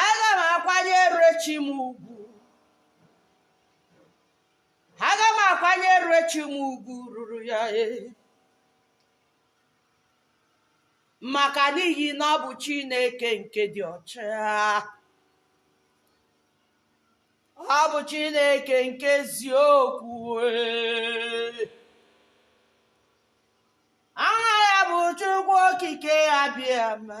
aga m akwanyere chi m ugwu aga m akwanyere chi m ugwu ruru ya e maka n'ihi na ọ bụ chineke nke dị ọcha ọ bụ chineke nke eziokwu e. aha ya bụ chukwu okike abịama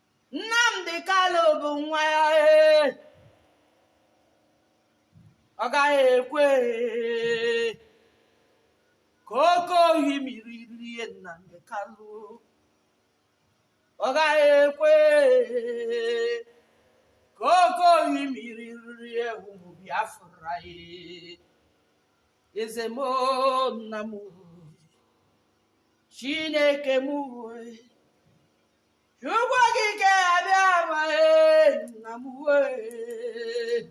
Nnamdi Kanu bụ nwa ya ee. ọ gaghị ekwe ee. ka oke ohimiri rie Nnamdi Kanu ọ gaghị ekwe ee. ka oke ohimiri rie ụmụ Biafra ee. eze m oo, nna m oo, Chineke m oo, Chukwu okike abịama nna m wee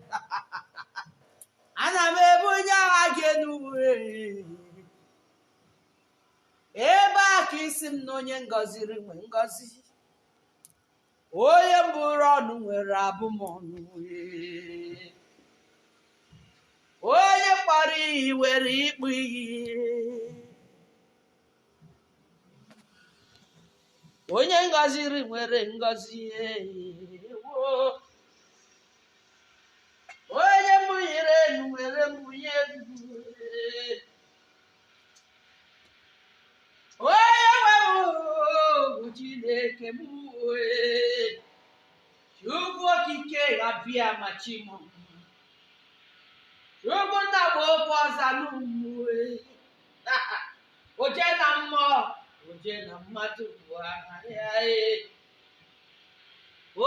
ana m ebunye aha gị enu wee ebe a ka ị sị m na onye m gọziri nwe ngọzi onye m bụrụ ọnụ nwere abụmọnụ wee onye m kpọrọ iyi nwere ịkpọ iyi onye m gọziri nwere ngọzi ewo. onye m bunyere elu nwere mbunye elu onye nwe m bụ chineke m wee chukwu okike abịama chi mụ chukwu nna bụ okwu ọza n'ụmụ oje na mmụọ oje na mmadụ bụ aha ya ee.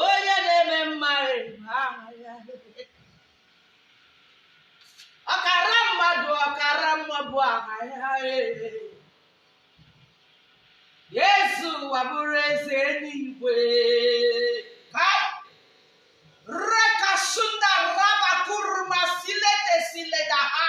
onye na-eme mma bụ aha ya ee. ọkara mmadụ ọkara mmụọ bụ aha ya ee. eze ụwa bụrụ eze eluigwe Kai! Rekasunda rabakurma silete sileda ha.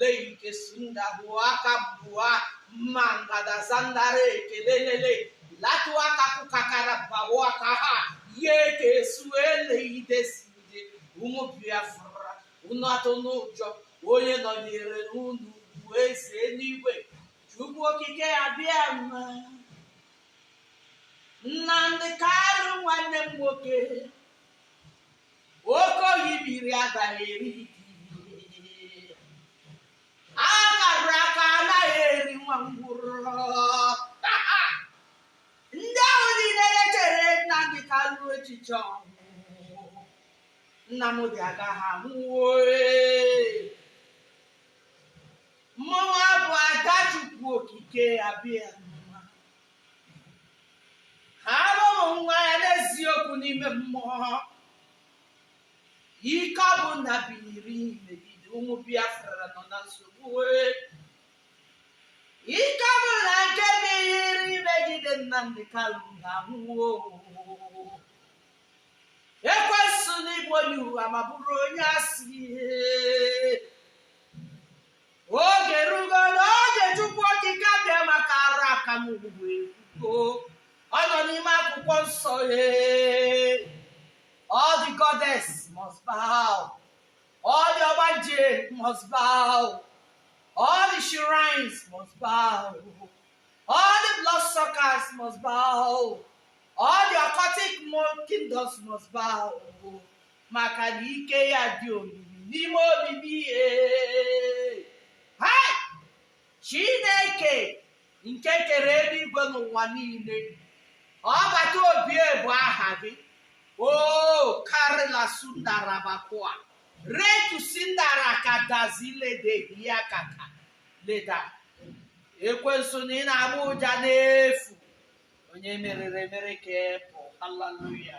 leike sunda hụa aka bụa mma ngada zandara ekelelele latụ aka kụkakara bawo aka ha ya eke esuo eleide sinde ụmụ biafra unu atụna ụjọ onye nọnyere unu bụ eze eluigwe chukwu okike abịama nnamdi kanu nwanne m nwoke oke osimiri agaghị eri gị agha a kara aka anaghị eri nwa ngwụrọ ndị ahụ niile na-echere nnamdi kanu echiche ọnwụ nnamdi agaghị anwụ o ee. mmụnwa bụ ada chukwu okike abịama abụ m nwa ya n'eziokwu n'ime mmụọ ike ọbụna biniri megide ụmụ biafra nọ na nsogbu ee. ike ọbụna nke biniri megide nnamdi kanu ga-anwụ o ekwensu na ị bụ onye ụgha ma bụrụ onye asị oge rugo n'oge Chukwu Okike Abịama kara aka m ugwu ekwugo ọ nọ n'ime akwụkwọ nsọ ee all the goddess must bow all the ọgbanje must bow all the shrines must bow all the blood suckers must bow all the occultic kingdoms must bow maka na ike ya dị omimi n'ime omimi ihe hai chineke nke kere eluigwe na ụwa niile ọbata obie bụ aha gị o karịla sundarabakwa retu sindara kadazile de ya kaka leda ekwensu na ị na-agba ụja n'efu onye e meriri emeri ka ị bụ haleluya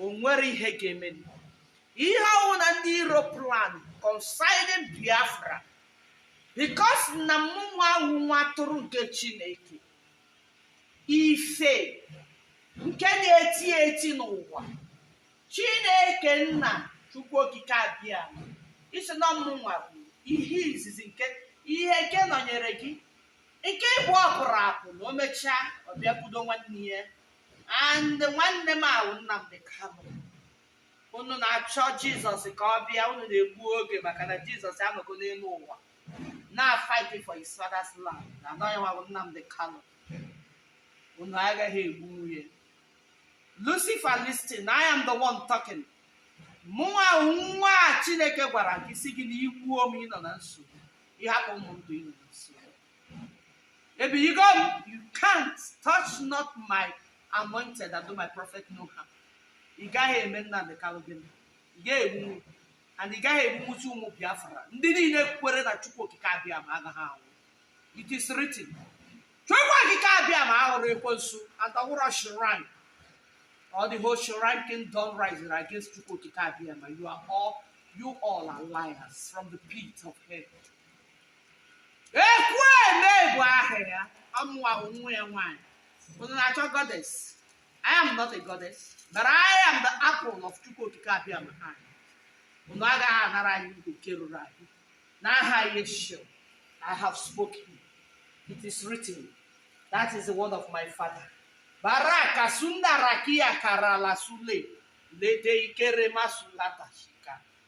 o nwere ihe ga-emeni ihe ọwụna ndị iro plan concerning biafra because na mmụnwa wụ nwa atụrụ nke chineke ife nke na-eti eti n'ụwa chineke nna chukwu okike abịama ị sị na mmụnwa bụ ihe izizi nke ihe nke nọnyere gị nke ibụọ pụrụ apụ na o mechaa ọ bịakwudo nwanne ya and nwanne m ahụ Nnamdi Kanu unu na-achọ Jizọs ka ọ bịa unu na-egbu oge maka na Jizọs anọgo n'elu ụwa na-fighting for his father's land na ọ yanwa bụ Nnamdi Kanu unu agaghị egbunwu ya Lucifer listen I am the one talking mụnwa wụ nwa a Chineke gwara gị sị gị na i gbuo m ị nọ na nsogbu ị hapụ m ndụ ị nọ na nsogbu Maybe you go, you can't touch not my anointed and do my prophet no harm. Ị gaghị eme Nnamdi Kanu gị ị gaghị egbu and ị gaghị egbunwuzi ụmụ Biafra ndị niile kwere na Chukwu Okike Abịama agaghị anwụ it is written Chukwu Okike Abịama awụrọ ekwensu and ọ wụrọ shrine all the whole shrine kingdom rising against Chukwu Okike abịa ma you are all you all are liars from the pit of hell Ekwueme bụ aha ya ọ mụwa bụ nwa ya nwaanyị unu na-achọ goddess I am not a goddess but I am the apple of Chukwu Okike Abịama eye unu agaghị anara anyị nke ruru anyị n'aha Yeshua I have spoken it is written that is the word of my father baraka sunda rakia karala sule lede ikere masulata shika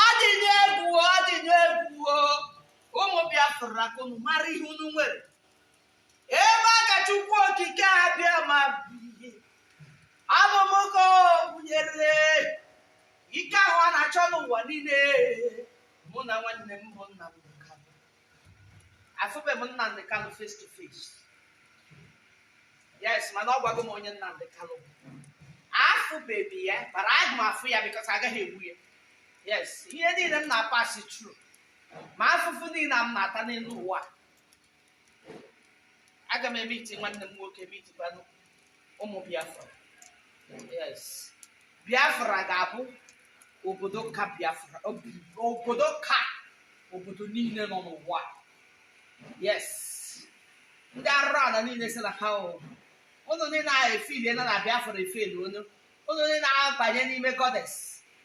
ọ dị n'egwu ọ dị n'egwu o. ụmụ biafra ka unu mara ihe unu nwere ebe a ka chukwu okike abịama bi ọ bụ mụ ka o bunyere ike ahụ a na-achọ n'ụwa niile mụ na nwanne m bụ Nnamdi Ka afụbeghị m Nnamdi Kanu face to face yes mana ọ gwago m onye Nnamdi Kanu bụ afụbeghị ya but aga m afụ ya because a gaghị egbu ya yes ihe niile m na-apasi through ma afụfụ niile a m na-ata n'elu ụwa aga m emeet nwanne m nwoke meetikwanụ ụmụ biafra yes biafra ga-abụ obodo ka biafra ob- obodo ka obodo niile nọ n'ụwa yes ndị arụrụala niile si na ha o ụnụ niile a efili na na biafra efeli onye ụnụ niile na-abanye n'ime goddess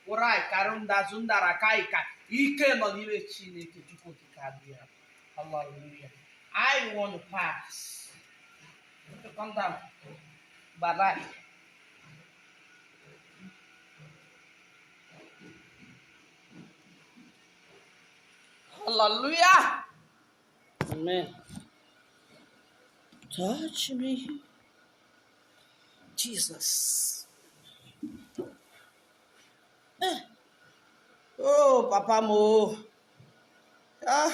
ụrai karụ ndazụ ndara ka ịka ike nọ n'ime chineke chukwu okike abịa hallelujah i want to pass Hallelujah. Amen. Touch me. Jesus. Eh. Oh, Papa Mo. Ah.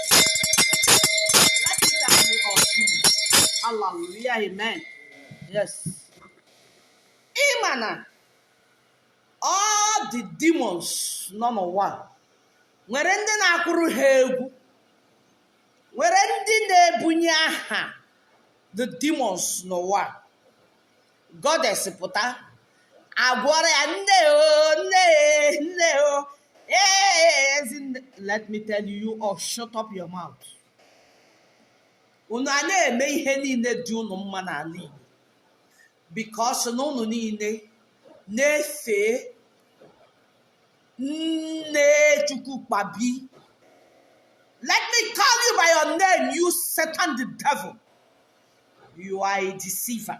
Hallelujah, amen. Yes. Ị ma na all the demons nọ n'ụwa nwere ndị na-akụrụ ha egwu nwere ndị na-ebunye aha the demons n'ụwa goddess pụta a gụọrọ ya nne o nne nne o ezi nne let me tell you all, shut up your mouth unu a na-eme ihe niile dị unu mma n'ala Igbo because na unu niile na-efe nne Chukwu kpabi let me call you by your name you Satan the devil you are a deceiver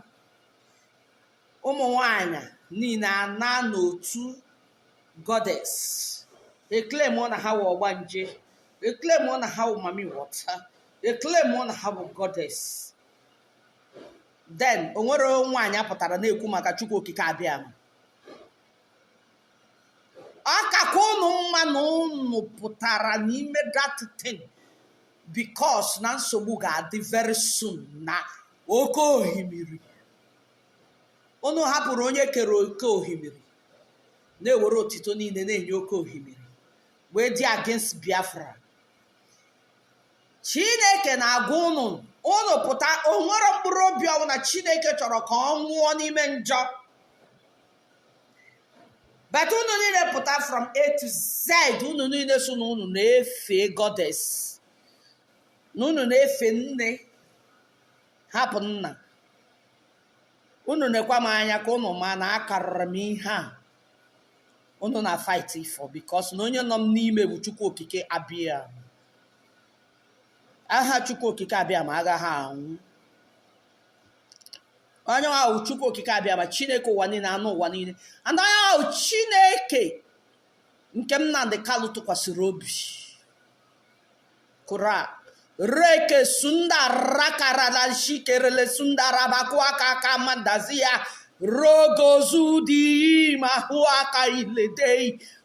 ụmụ nwanyị niile a nọ n'otu goddess a-claim na ha wụ ọgbanje a-claim na ha wụ mami water a-claim na ha wụ goddess then o nwere nwaanyị a pụtara na-ekwu maka chukwu okike abịama ọ kakwa ụnụ mma na ụnụ pụtara n'ime that thing because na nsogbu ga-adị very soon na oke ohimiri unu hapụrụ onye kere oke ohimiri na-ewere otito niile na-enye oke ohimiri wee dị against biafra chineke na-agwa ụnụ ụnụ pụta o nwero mkpụrụ obi ọbụla chineke chọrọ ka ọ nwụọ n'ime njọ but unu niile pụta from a to z unu niile so na unu na-efe goddess na unu na-efe nne hapụ nna unu nekwa m anya ka unu ma na akarịrị m ihe a unu na-afight for because na onye nọ m n'ime bụ chukwu okike abịa aha chukwu okike abịama agaghị anwụ onye ahụ chukwu okike abịama chineke ụwa niile anụ ụwa niile and onye ahụ chineke nke nnamdi kanu tụkwasịrị obi kụra reke sunda rakarala shikerele sunda rabakụ aka aka mandazi ya rogozu dị iyi ma hụ aka iledei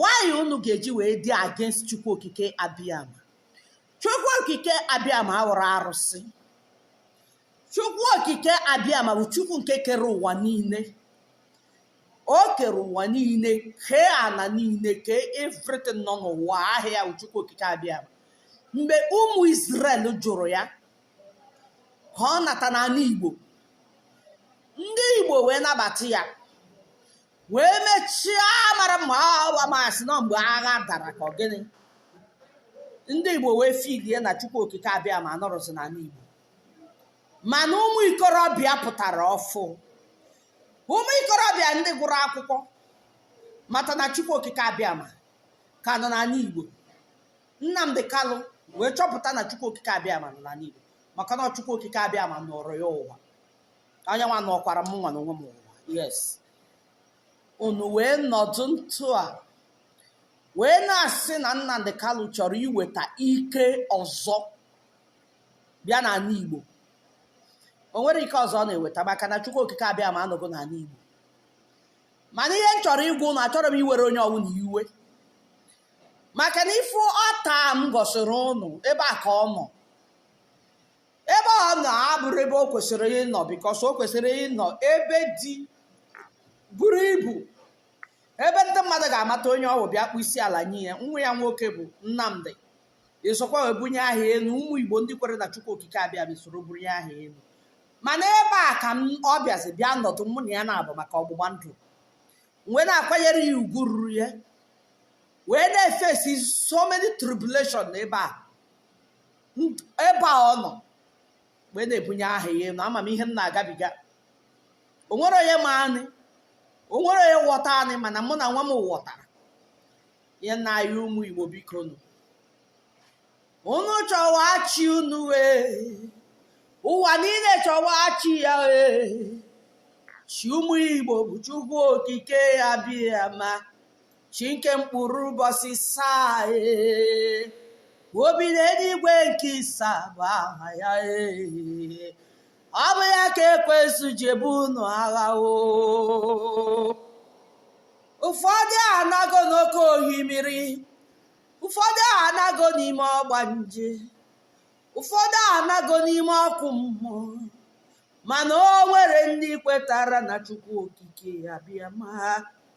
why unu ga-eji wee dị against chukwu okike abịama chukwu okike abịama awụrọ arụsị chukwu okike abịama bụ chukwu nke kere ụwa niile o kere ụwa niile kee ana niile kee everything nọ n'ụwa ọ ya bụ chukwu okike abịama mgbe ụmụ Israel jụrụ ya ka ọ nata n'ala Igbo ndị Igbo wee nabata ya wee mechie mara mma awa masị na mgbe agha dara ka ọ gịnị ndị igbo wee feelie na chukwu okike abịama anọrọzi n'ala igbo mana ụmụ ikorobịa pụtara ọfụ ụmụ ikorobịa ndị gụrụ akwụkwọ mata na chukwu okike abịama ka nọ n'ala igbo nnamdi kanu wee chọpụta na chukwu okike abịama nọ n'ala igbo maka na chukwu okike abịama nọrọ ya ụwa ọ ya nwa nọkwara mụ nwa n'onwe m ụwa yes unu wee nọdụ ntụ a wee na-asị na Nnamdi Kanu chọrọ iweta ike ọzọ bịa n'ala Igbo o nwere ike ọzọ ọ na-eweta maka na Chukwu Okike Abịama anọgo n'ala Igbo mana ihe m chọrọ ịgwa ụnụ achọrọ m iwere onye ọbụla iwe maka na ifu ọta m gosiri ụnụ ebe a ka ọ nọ ebe ọ nọ abụrọ ebe o kwesịrị ịnọ bikos o kwesịrị ịnọ ebe dị buru ibu ebe ndị mmadụ ga-amata onye ọ wụ bịa kpọ isi ala nye ya nwa ya nwoke bụ nnamdị esokwa wee bunye aha elu ụmụ igbo ndị kwere na chukwu okike abịa soro bunye aha elu mana ebe a ka m- ọ bịazi bịa nọdụ mụ na ya na-abụ maka ọgbụgba ndụ wee na-akwanyere ya ugwu ruru ya wee na-efesi so many tribulation n'ebe a ebe a ọ nọ wee na-ebunye aha ya elu ama m ihe m na-agabiga o nwere onye ma anyị o nwere onye ghọta anyị mana mụ na nwa m ghọtara ihe nna anyị ụmụ igbo bikonụ unu chọwa chi unu ee ụwa niile chọwa chi ya ee chi ụmụ igbo bụ chukwu okike abịama chi nke mkpụrụ ụbọchị isaa ee obi n'eluigwe nke isaa bụ aha ya ee ọ bụ ya ka ekwensu ji ebu unu agha oo ụfọdụ anago n'oke ohimiri ụfọdụ anago n'ime ọgbanje ụfọdụ anago n'ime ọkụ mmụọ mana o nwere ndị kwetara na chukwu okike abịama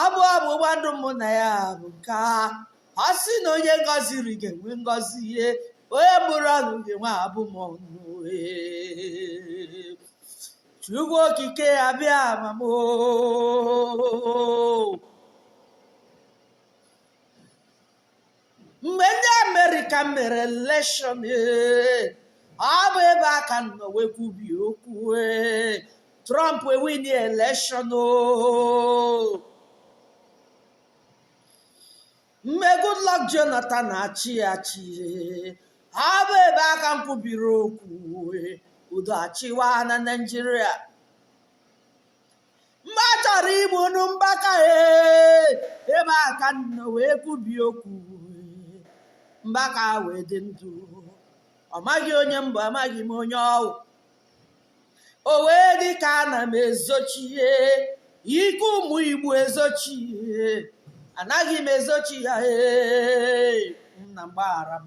ọ bụ ọgbụgba ndụ mụ na ya bụ nke a ọ sị na onye m gọziri ga-enwe ngọzi ee onye m bụrụ ọnụ ga-enwe abụmọnụ ee. chukwu okike abịama m oo. mgbe ndị amerịka mere elekshọn ee, ọ bụ ebe a ka m nọ wee kwubie okwu ee, trump ewini elekshọn oo mgbe goodluck jonathan na-achị achị ee, ọ bụ ebe a ka m kwubiri okwu ee, udo achịwa na naijiria mgbe a chọrọ igbunụ mbaka ebe a ka m nọ wee kwubi okwu mbaka wee dị ndụ ọ maghị onye m bụ amaghị m onye ọ wụ o wee dị ka ana m ezochie ike ụmụ igbo ezochie anaghị m ezochi ya ee nna m gbaghara m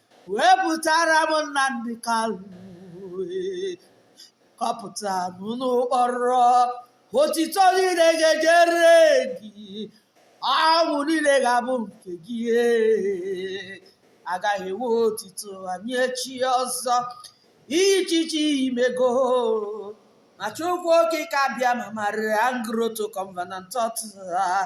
wepụtara m Nnamdi Kanu kpọpụta m na mkpọrọ otito niile ga-ejere gị ọṅụ niile ga-abụ nke gị agaghị ewe otito enye chi ọzọ ichichi imego ma chukwu okike abịama marian grotto covenant altar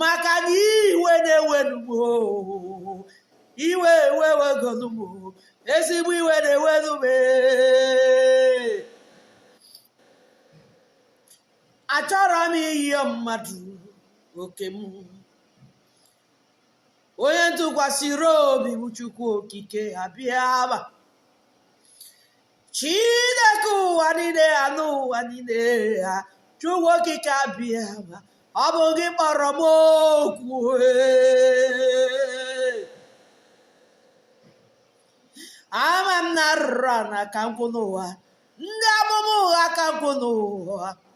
maka na iwe na-ewenu m o iwe ewegonu m o ezigbo iwe na-ewenu m e achọrọ m ịyọ mmadụ oke m onye m tụkwasịrị obi bụ chukwu okike abịama chineke ụwa niile ha n'ụwa niile ha chukwu okike abịama ọ bụ gị kpọrọ m oku ee. ama m na arụrụ ana ka nkwụ n'ụwa ndị amụma ụgha ka nkwụ n'ụwa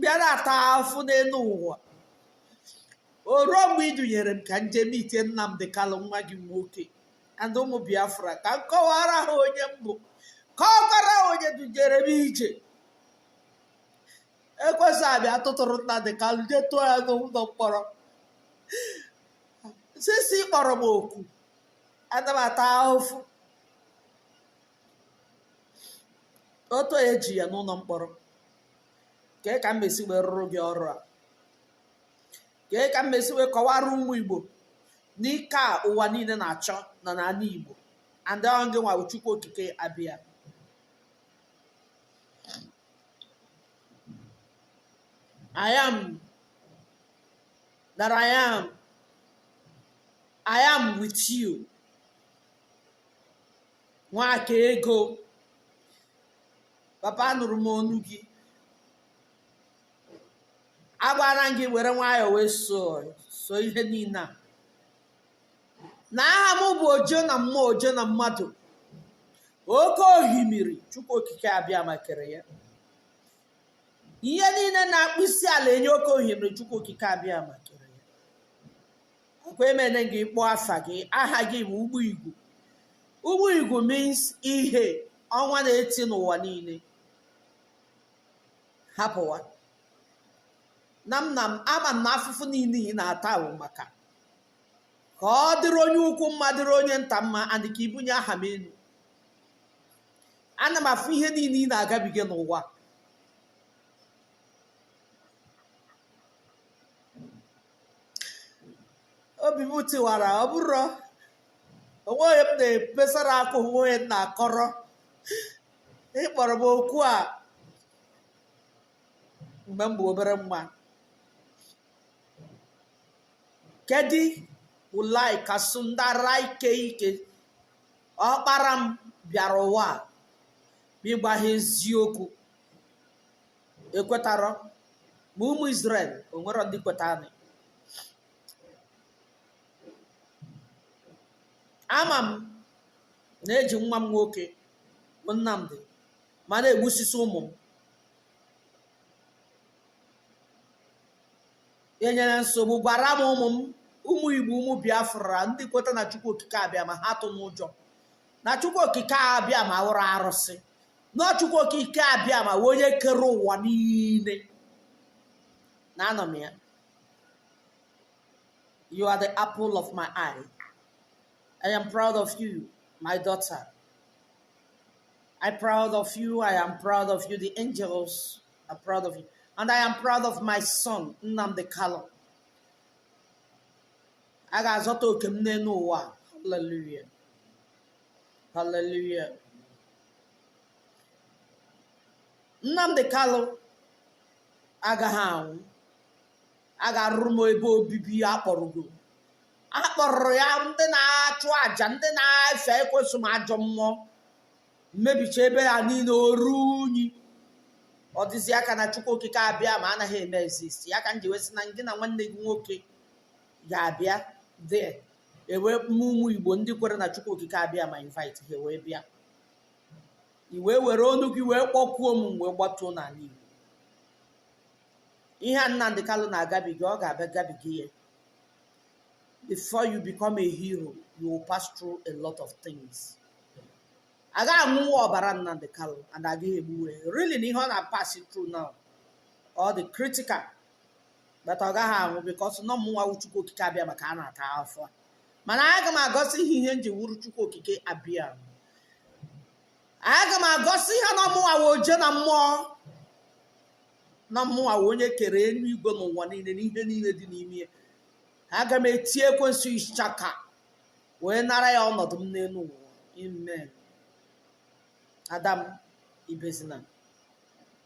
bịa na-ata afụfụ n'elu ụwa o ruo mgbe ị dunyere m ka m je mete Nnamdi Kanu nwa gị nwoke and ụmụ Biafra ka m kọwara ha onye m bụ kọwara ha onye dunyere m ije ekwensu abịa tụtụrụ Nnamdi Kanu je tụọ ya n'ụlọ mkpọrọ since ị kpọrọ m oku ana m ata ahụfụ otu e ji ya n'ụlọ mkpọrọ kee ka m esi wee rụrụ gị ọrụ a kee ka m esi wee kọwara ụmụ igbo na ike a ụwa niile na-achọ nọ n'ala igbo and aha gị nwa bụ chukwu okike abịama I am that I am. I am with you. nwakaego papa anụrụ m onu gị agwara m gị were nwayọọ wee so so ihe niile a na aha m bụ oje na mmụọ oje na mmadụ oke ohimiri chukwu okike abịama kere ya ihe niile na-akpụ isi ala enye oke ohimiri chukwu okike abịama kere ọkwa emene gị kpọọ afa gị aha gị bụ ugbo igwu ugbo igwu means ihe ọnwa na-eti n'ụwa niile hapụwa na m na m ama m na afụfụ niile ị na-ata bụ maka ka ọ dịrị onye ukwu mma dịrị onye nta mma and ka i bunye aha m elu ana m afụ ihe niile ị na-agabiga n'ụwa obi m tiwara ọ bụrụ o nwe onye m na-ebesara akwa o nwe onye m na-akọrọ ị kpọrọ m oku a mgbe m bụ obere nwa kedu ulai kasụ ndara ike ike ọkpara m bịara ụwa a ma ịgbaghị eziokwu ekwetarọ ma ụmụ Izrel o nwere ndị kwetanụ ama m na e ji nwa m nwoke bụ Nnamdi ma na-egbusisi ụmụ m enwerọ nsogbu gwara m ụmụ m ụmụ Igbo ụmụ Biafra ndị kweta na Chukwu Okike Abịama ha atụna ụjọ na Chukwu Okike Abịama awụrọ arụsị na Chukwu Okike Abịama wụ onye kere ụwa niile na anọ m ya you are the apple of my eye I am proud of you my daughter I am proud of you I am proud of you the angels are proud of you and I am proud of my son Nnamdi Kanu a ga-azọta oke m n'elu ụwa hallelujah Hallelujah. Nnamdi Kalụ agaghị anwụ a ga-arụrụ m ebe obibi ya akpọrọgo akpọrọ ya ndị na-achụ àjà ndị na-efe ekwensu ma ajọ mmụọ emebicha ebe a niile o ruo unyi ọ dịzịa ka na chukwu okike abịama anaghị eme exist ya ka m ji wee sị na gị na nwanne gị nwoke ga-abịa dị e wee kpọọ ụmụ igbo ndị kwere na chukwu okike abịama invite ha wee bịa i wee were ọnụ gị wee kpọkuo m m wee gbatuo n'ala igbo ihe a nnamdi kalụ na-agabiga ọ ga-abịa gabiga ya before you become a hero you will pass through a lot of things a gaghị aṅụwa ọbara nnamdi kalụ and agaghị egbuwe really na ihe ọ na-pass through now ọ dị critical but ọ gaghị anwụ because na ọ mụnwa wụ chukwu okike abịama ka a na-ata afụfụ mana aga m egosi ha ihe m ji wụrụ chukwu okike abịa aga m egosi ha na ọ mụnwa wụ oje na mmụọ na mụnwa wụ onye kere elu igwe na ụwa niile na ihe niile dị n'ime ya aga m eti ekwensu ichaka wee nara ya ọnọdụ m n'elu ụwa amen ada m ebezina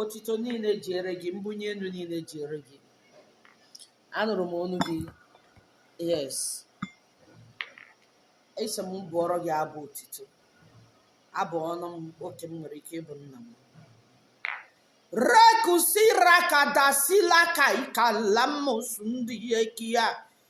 Otito niile jere gị, mbunye elu niile jere gị. Anụrụ m olu gị. Yes. Ị sị m bụọrọ gị abụ otito. Abụọnụ m oke m nwere ike ịbụ nna m. Rekusira kadasila ka ikalamus ndị ekia.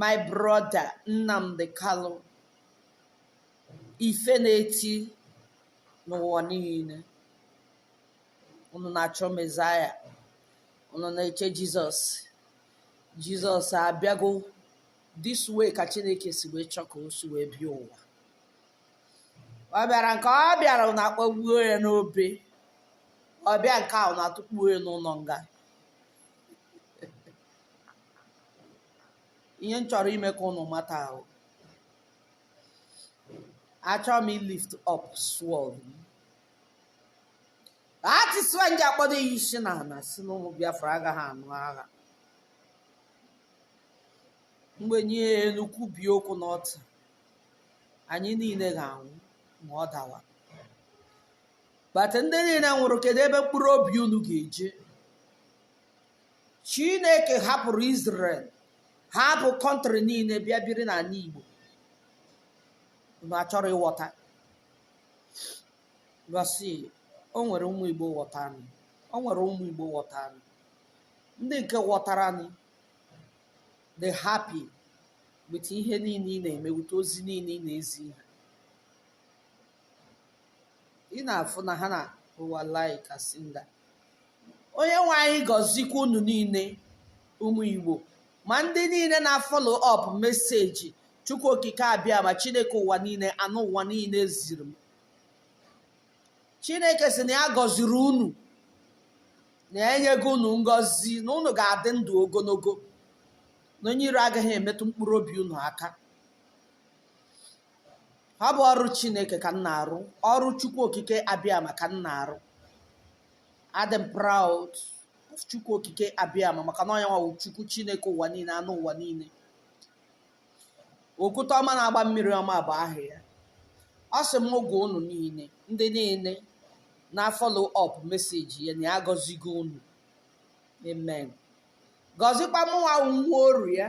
my brother Nnamdi Kanu ife na-eti n'ụwa niile unu na-achọ mezaya unu na-eche jizọs jizọs abịago this way ka chineke si wee chọ ka o si wee bịa ụwa ọ bịara nke ọ bịara unu akpọgbuo ya n'obe ọ bịa nke a unu atụkpuo ya n'ụlọ nga ihe m chọrọ ime ka unu mata ahụ achọrọ m ilift up sword that is why m ji akpọdo ya isi na ala sị na ụmụ biafra agaghị anụ agha mgbe onye elu kwubie okwu n'otu anyị niile ga-anwụ ma ọ dawa but ndị niile nwụrụ kedu ebe mkpụrụ obi unu ga-eje chineke hapụrụ Israel hapụ kọntrị niile bịa biri n'ala Igbo unu achọrọ ịghọta because o nwere ụmụ Igbo ghọta anyị o nwere ụmụ Igbo ghọta anyị ndị nke ghọtara anyị dị happy with ihe niile ị na-eme with ozi niile ị na-ezi ihe ị na-afụ na ha na ụwa like asị na onye nwe anyị gọzikwa unu niile ụmụ igbo ma ndị niile na-afollow up message chukwu okike abịama chineke ụwa niile anụ ụwa niile ziri m chineke sị na ya gọziri unu na ya enyego unu ngọzi na unu ga-adị ndụ ogologo na onye iro agaghị emetụ mkpụrụ obi unu aka ọ bụ ọrụ chineke ka m na-arụ ọrụ chukwu okike abịama ka m na-arụ adị m proud of chukwu okike abịama maka na ọ ya nwa wụ chukwu chineke ụwa niile anụ ụwa niile okwute ọma na-agba mmiri ọma bụ aha ya ọ sị m gwa unu niile ndị niile na-afollow up message ya na ya gọzigo unu amen gọzikwa mụnwa nwa oru ya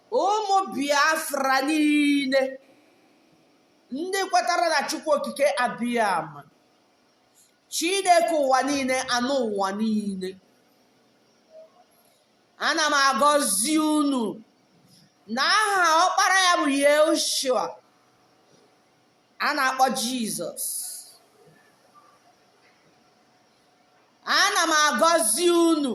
ụmụ biafra niile ndị kwetara na chukwu okike abịama chineke ụwa niile anụ ụwa niile ana m agọzi unu na aha ọkpara ya bụ Yeshua a na-akpọ Jizọs ana m agọzi unu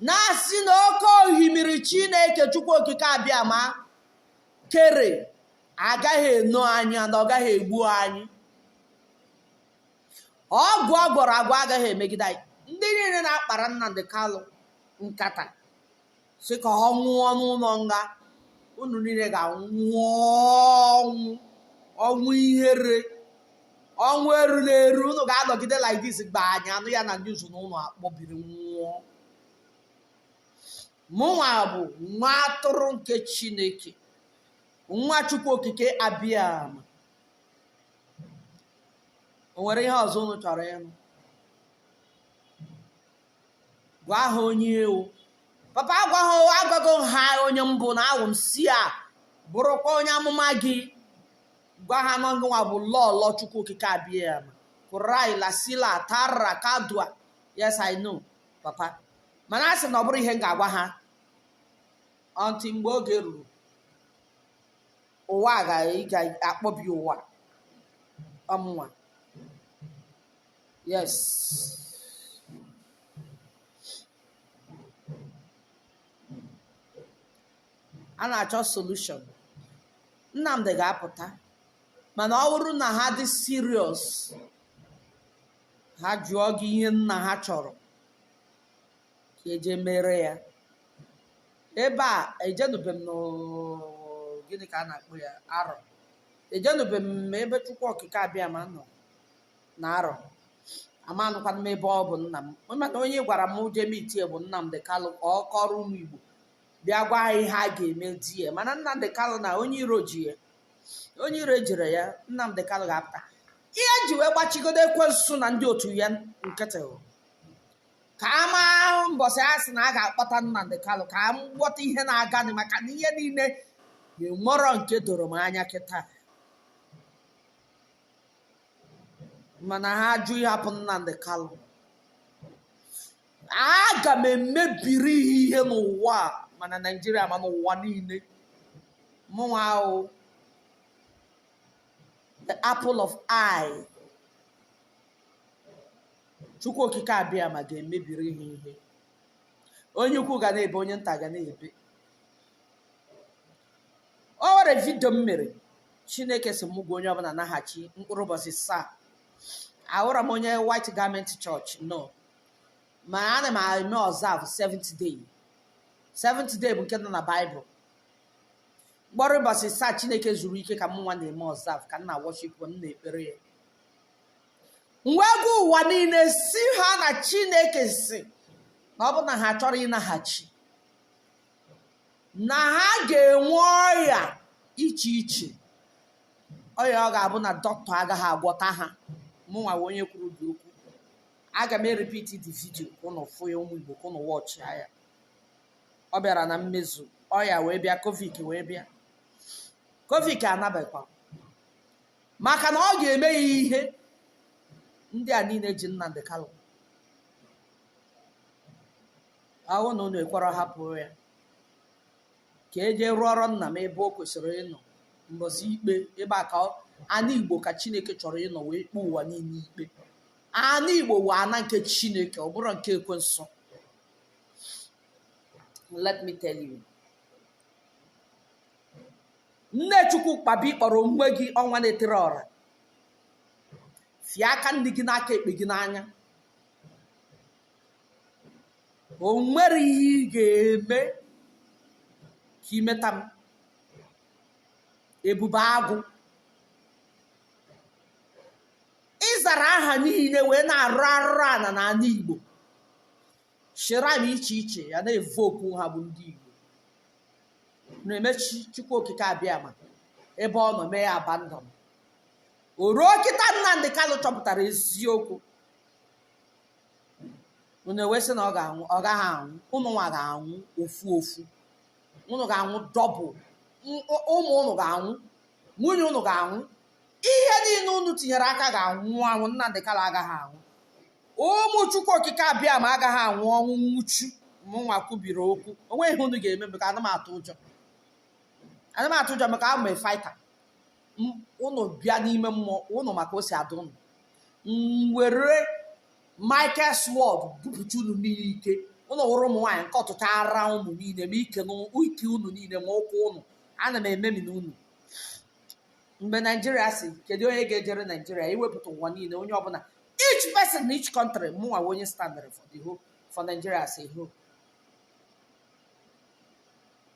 na-asị na oke ohimiri chineke chukwu okike abịama kere agaghị eno anyị na ọ gaghị egbu anyị ọgwụ ọ gwọrọ agwọ agaghị emegide anyị ndị niile na-akpara Nnamdi Kalụ nkata sị ka ọ nwụọ n'ụlọ nga unu niile ga-anwụ ọnwụ ọnwụ ihere ọnwụ eru na eru unu ga-anọgide like this gba anyị anụ ya na news na unu akpọbiri nwụọ mụnwa bụ nwa atụrụ nke chineke nwa chukwu okike abịama o nwere ihe ọzọ unu chọrọ ịnụ gwa ha onye ị wụ papa gwa ha agwago m ha onye m bụ na awụ m seer bụrụkwa onye amụma gị gwa ha na ọ gịnwa bụ lọlọ chukwu okike abịama kurai lasila tara kadua yes i know papa mana a sị na ọ bụrọ ihe m ga-agwa ha until mgbe oge ruru ụwa ga-akpọbi ụwa ọ mụnwa Yes. A na-achọ solution. Nnamdi ga-apụta mana ọ bụrụ na ha dị serious ha jụọ gị ihe nna ha chọrọ ka e je mere ya ebe a ejenube m n'o- gịnị ka a na-akpọ ya arọ ejenube m ebe chukwu okike abịama nọ na arọ amanụkwa m ebe ọ bụ nna m mana onye gwara m je meetie bụ Nnamdi Kalụ ka ọ kọrọ ụmụ Igbo bịa gwa ha ihe a ga-eme there mana Nnamdi Kalụ na onye iro ji ya onye iro ejirọ ya Nnamdi Kalụ ga-apụta ihe e ji wee gbachigodo ekwensu na ndị otu ya nkịtị bụ ka a maa mbọsị a sị na a ga-akpọta Nnamdi Kalụ ka m ghọta ihe na-aganụ maka na ihe niile enwerọ nke doro m anya kịta mana ha ajụ ịhapụ Nnamdi Kanu aga m emebiri ha ihe n'ụwa ma na Naịjirịa ma n'ụwa niile mụnwa wụ the apple of eye chukwu okike abịama ga-emebiri ha ihe onye ukwu ga na-ebe onye nta ga na-ebe o nwere vidio m mere chineke sị m gwa onye ọbụla naghachi mkpụrụ ụbọchị saa awụrọ m onye white garment church no ma ana m eme observe seventh day seventh day bụ nke nọ na baịbụl mkpụrụ ụbọchị saa chineke zuru ike ka mụnwa na-eme observe ka m na worship m na-ekpere ya m wee gwa ụwa niile sị ha na chineke sị na ọ bụ na ha achọrọ ịnaghachi na ha ga-enwe ọya iche iche ọya ọ ga-abụ na dọkịta agaghị agwọta ha mụnwa wụ onye kwuru the okwu aga m eripiti the vidio ka ụnụ fụ ya ụmụ igbo ka ụnụ watchịa ya ọ bịara na mmezu ọya wee bịa covid wee bịa covid anabekwa maka na ọ ga-eme ha ihe ndị a niile ji Nnamdi Kanu ọ wụ na unu ekwerọ hapụ ya ka e jee rụọrọ nna m ebe o kwesịrị ịnọ mbọsị ikpe ebe a ka ọ- ana igbo ka chineke chọrọ ịnọ wee kpee ụwa niile ikpe ana igbo wụ ana nke chineke ọ bụrọ nke ekwensu let me tell you nne chukwu kpabi kpọrọ onwe gị ọnwa na-etiri ọra fie aka nni gị na aka ekpe gị n'anya o nwerọ ihe ị ga-eme ka i meta m ebube agụ ị zara aha niile wee na-arụ arụrụ ana n'ana igbo shrine iche iche ya na-evu okwu ha bụ ndị igbo na-eme chukwu okike abịama ebe ọ nọ mee ya abandon o ruo kịta Nnamdi Kanu chọpụtara eziokwu unu wee sị na ọ ga-anwụ ọ gaghị anwụ unu nwa ga-anwụ ofu ofu unu ga-anwụ double M- ụ- ụmụ unu ga-anwụ nwunye unu ga-anwụ ihe niile unu tinyere aka ga-anwụ anwụ Nnamdi Kanu agaghị anwụ ụmụ chukwu okike abịama agaghị anwụ ọnwụ nwụchu mụnwa kwubiri okwu o nweghị ihe unu ga-eme maka anaghị m atụ ụjọ anaghị m atụ ụjọ maka awụ m fighter ụnụ bịa n'ime mmụọ ụnụ ma ka o si adị ụnụ m were Michael Sword bupụta unu niile ike ụnụ wụrụ ụmụ nwaanyị nke ọtụtụ ara ụnụ niile ma ike ụnụ niile ma ụkwụ ụnụ ana m ememina ụnụ mgbe naijiria sị kedu onye ga-ejere naijiria iwepụta ụwa niile onye ọbụla each person na each country mụnwa wụ onye standịrị for the whole for nigeria as a whole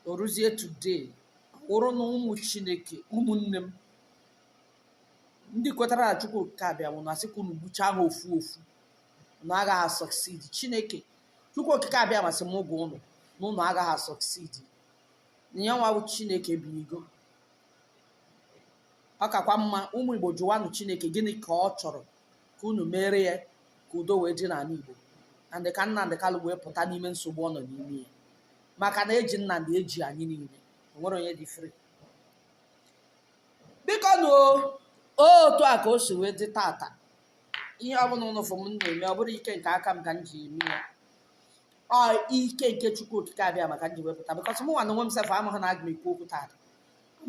o ruzie today wụrụ na ụmụ chineke ụmụnne m ndị kwetara na chukwu okike abịama na asị ka unu gbuchaa ha ofu ofu unu agaghị succeed chineke chukwu okike abịama sị m gwa ụnụ na ụnụ agaghị succeed na ya nwa bụ chineke binigo ọ kakwa mma ụmụ igbo jụwanụ chineke gịnị ka ọ chọrọ ka unu meere ya ka udo wee dị n'ala Igbo and ka Nnamdị Kalụ wee pụta n'ime nsogbu ọ nọ n'ime ya maka na eji Nnamdị eji anyị niile o nwerọ onye dị free biko na otu a ka o si wee dị tata ihe ọbụla ụnụ fụ m na-eme ọ bụrọ ike nke aka m ka m ji eme ya ọ ike nke chukwu okike abịama ka m ji wee pụta because mụ nwa na onwe m sef amaghị na aga m ekwu okwu tata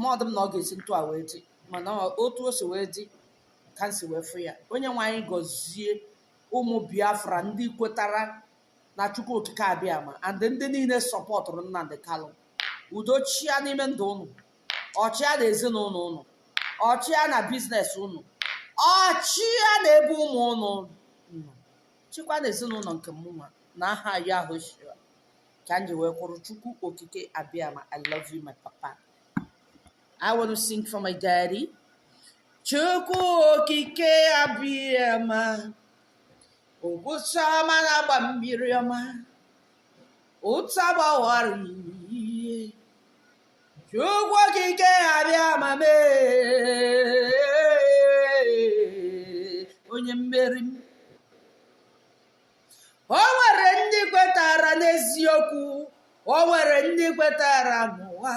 ma ọ dị m na ọ ga-esi otu a wee dị mana otu o si wee dị ka m si wee fụ ya onye nwe anyị gọzie ụmụ biafra ndị kwetara na chukwu okike abịama and ndị niile sọpọtụrụ nnamdị kalụ udo chịa n'ime ndụ ụnụ ọ chịa na ezinụlọ ụnụ ọ chịa na business ụnụ ọ chịa na ebe ụmụ ụnụ nọ chịkwa na ezinụlọ nke mụnwa na aha yahushua ka m ji wee kwụrụ chukwu okike abịama i love you my papa I want to sing for my daddy. Chukwu okike Abịama ogwụcha ọma na-agba mmiri ọma ụta gbawara ihe Chukwu okike Abịama mee onye mmeri m o nwere ndị kwetara n'eziokwu o nwere ndị kwetara n'ụwa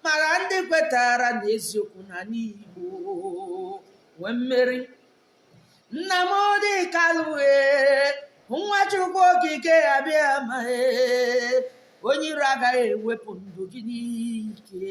mara ndị kwetara n'eziokwu na n'igbo nwee mmeri nnamdị kalụ e nwa chukwu okike abịama onye iro agaghị ewepụ ndụ gị n'ike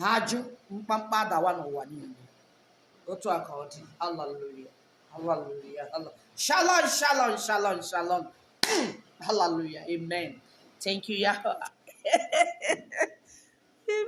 ha jụ mkpamkpa adawa n'ụwa niile otu a ka ọ dị haleluya haleluya shalom shalom shalom shalom haleluya amen thank you yahweh